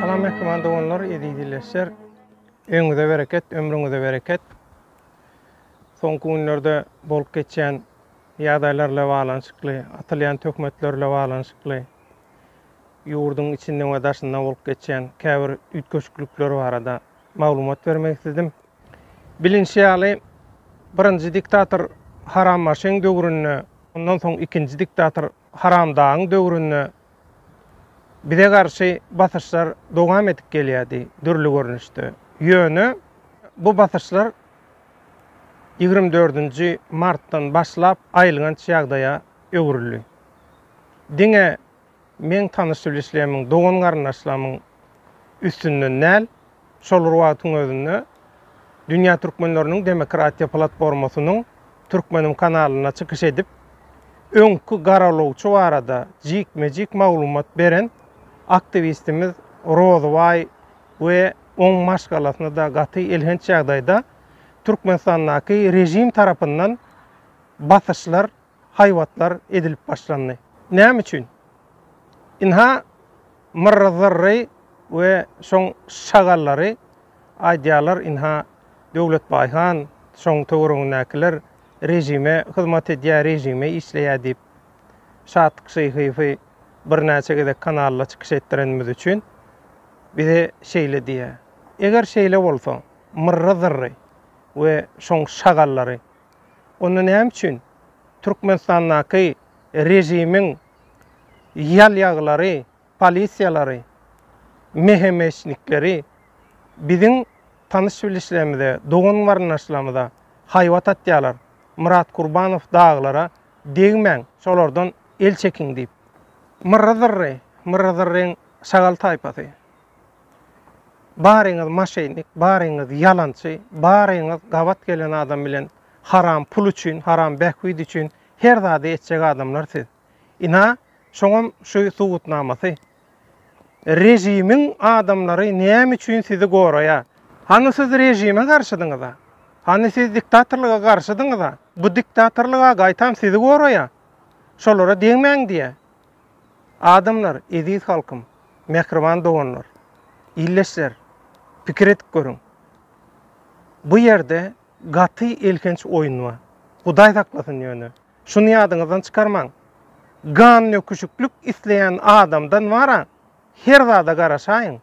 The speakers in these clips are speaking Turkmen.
Salam mähriban doganlar, eziz illeşler. Öňüňize bereket, ömrüňize bereket. Soňky günlerde bolup geçýän ýagdaýlar bilen baglanyşykly, atylýan töhmetler bilen baglanyşykly ýurduň içinde we daşynda bolup geçýän käbir üýtgeşiklikler barada Maglumat bermek isledim. Bilinşi ýaly, birinji diktator Haram Maşyň döwründe, ondan soň ikinji diktator Haram Dagyň döwründe bize garşy basyşlar dowam edip gelýärdi dürli görnüşde. Ýöne bu basyşlar ýigrimi dördünji martdan başlap aýylganç ýagdaýa öwrüldi. Diňe Meň tanyş-bilişlerimiň, dogan-garyndaşlarymyň üstünden däl, şol bir wagtyň özünde Dünýä türkmenleriniň demokratiýa platformasynyň Türkmenim kanalynda çykyş edip, öňki garalawçy barada jikme-jik maglumat beren aktiwistimiz Rozybaý we oň maşgalasyna-da gaty elhenç ýagdaýda Türkmenistandaky režim tarapyndan basyşlar haýbatlar edilip başlandy. Näme üçin? Ynha, Myrry Zyrry we şoň şagallary aýdýarlar, ynha, Döwletbaý han, şoň töweregindäkiler režime hyzmat edýär, režime işleýär diýip, Şatlyk Şyhyýewi birnäçe gezek kanalda çykyş etdirenimiz üçin bize şeýle diýýär. Eger şeýle bolsa, Myrry Zyrry we şoň şagallary Onda näme üçin Türkmenistandaky režimiň ýalýaglary, polisiýalary, mehemeşnikleri biziň tanyş-bilişlerimize, dogan-garyndaşlarymyza haýbat atýarlar, Myrat Kurbanow daglara degmäň, şolardan el çekiň diýip. Myrry-zyrry, myrry-zyrryň şagal taýpasy. Baryňyz maşennik, baryňyz ýalançy, baryňyz gabat gelen adam bilen haram pul üçin, haram bähbit üçin her zady etjek adamlar siz. Ina, şoňam şu subutnamasy. Režimiň adamlary näme üçin sizi goraýar? Hany siz režime garşydyňyz-a? Hany siz diktatorlyga garşydyňyz-a? Bu diktatorlyga gaýtam sizi goraýar. Şolara degmäň diýýär. Adamlar, eziz halkym, mähriban doganlar, ildeşler, pikir edip görüň. Bu ýerde gaty elhenç oýun bar. Hudaý saklasyn ýöne. Şuny ýadyňyzdan çykarmaň. Gan nöküşiklik isleýän adamdan wara her zada garaşaýyň.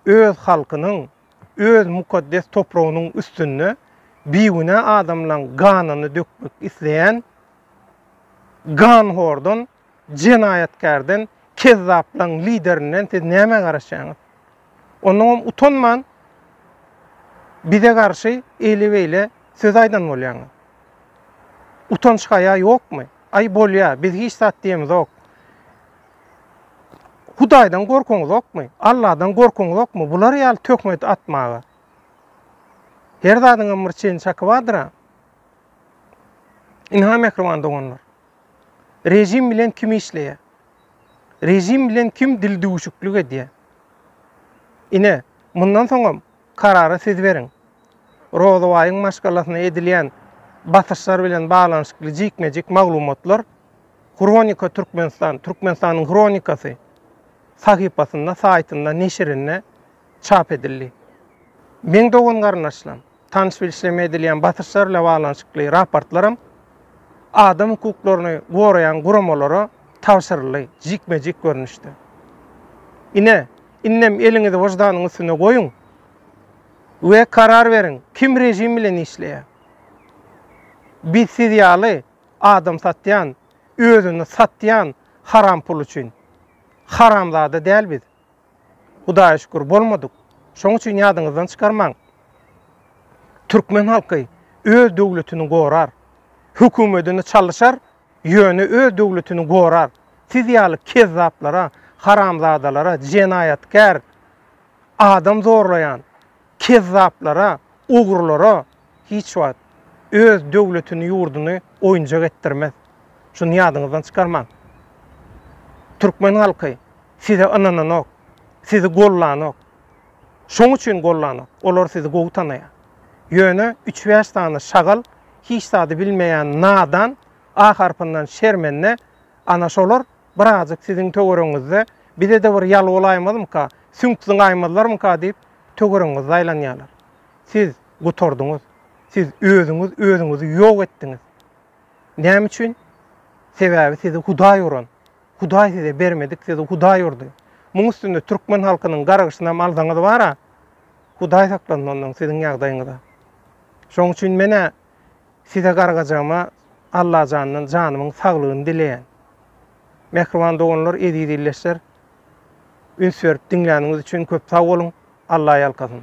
Öz halkynyň, öz mukaddes topragynyň üstünde bigünä adamlaň ganyny dökmek isleýän Ganhordan, jenaýatkärden, kezzaplaň liderinden siz nämä garaşýaňyz? Onnoňam utanman bize garşy eýle-beýle söz aýdan bolýaňyz. Utanç-haýa ýokmy? Aý bolýa, biz hiç zat diýemizok. Hudaýdan gorkuňyzokmy? Alladan gorkuňyzokmy? Bular ýaly töhmet atmaga. Her zadyňam bir çen-çaky bardyr-a. Ynha mähriban doganlar. Režim bilen kim işleýär? Režim bilen kim dildüwüşiklik edýär? Ine, mundan soňam karary siz beriň. Rozabaýyň maşgalasyna edilýän basyşlar bilen baglanyşykly jikme-jik maglumatlar Hronika Türkmenistan, Türkmenistanyň hronikasy sahypasynda, saýtynda, neşirinde çap edildi. Meň dogan-garyndaşlam! tanyş bilişleme edilýän basyşlar bilen baglanyşykly raportlaram adam hukuklaryny goraýan guramalara tabşyryldy, jikme-jik görnüşde. Ine, indem eliňizi wyždanyň üstüne goýuň we karar beriň, kim režim bilen işleýär? Biz siz ýaly adam satýan, özüni satýan haram pul üçin haramzada däl biz. Hudaýa şükür, bolmadyk. Şoň üçin ýadyňyzdan çykarmaň. Türkmen halky öz döwletini gorar. Hökümetini çalyşar, ýöne öz döwletini gorar. Siz ýaly kezzaplara, haramzadalara, jenaýatkär, adam zorlaýan, Kezzaplara, ogrulara hiç wagt öz döwletini ýurduny oýunjak etdirmez. Şuny ýadyňyzdan çykarmaň. Türkmen halky size ynananok, sizi gollanok. Şoň üçin gollanok. Olar sizi gowy tanaýar. Ýöne üç bäş sany şagal hiç zady bilmeýän nadan A harpyndan şermende ana şolar birazjyk siziň töweregiňizde bizede bir ýal bolaýmazmyka, süňk zyňaýmazlarmyka diýip töweregiňizde aýlanýarlar. Siz gutardyňyz. Siz özüňiz özüňizi ýok etdiňiz. Näme üçin? Sebäbi sizi Hudaý uran. Hudaý size bermedik, sizi Hudaý urdy. Muň üstünde türkmen halkynyň gargyşynam alsaňyz bar-a, Hudaý saklasyn ondan siziň ýagdaýyňyza. Şoň üçin men-ä Size gargajygyma Allajandan janymyň saglygyny dileýän. Mähriban doganlar eziz ildeşler üns berip diňläniňiz üçin köp sag boluň Alla ýalkasyn.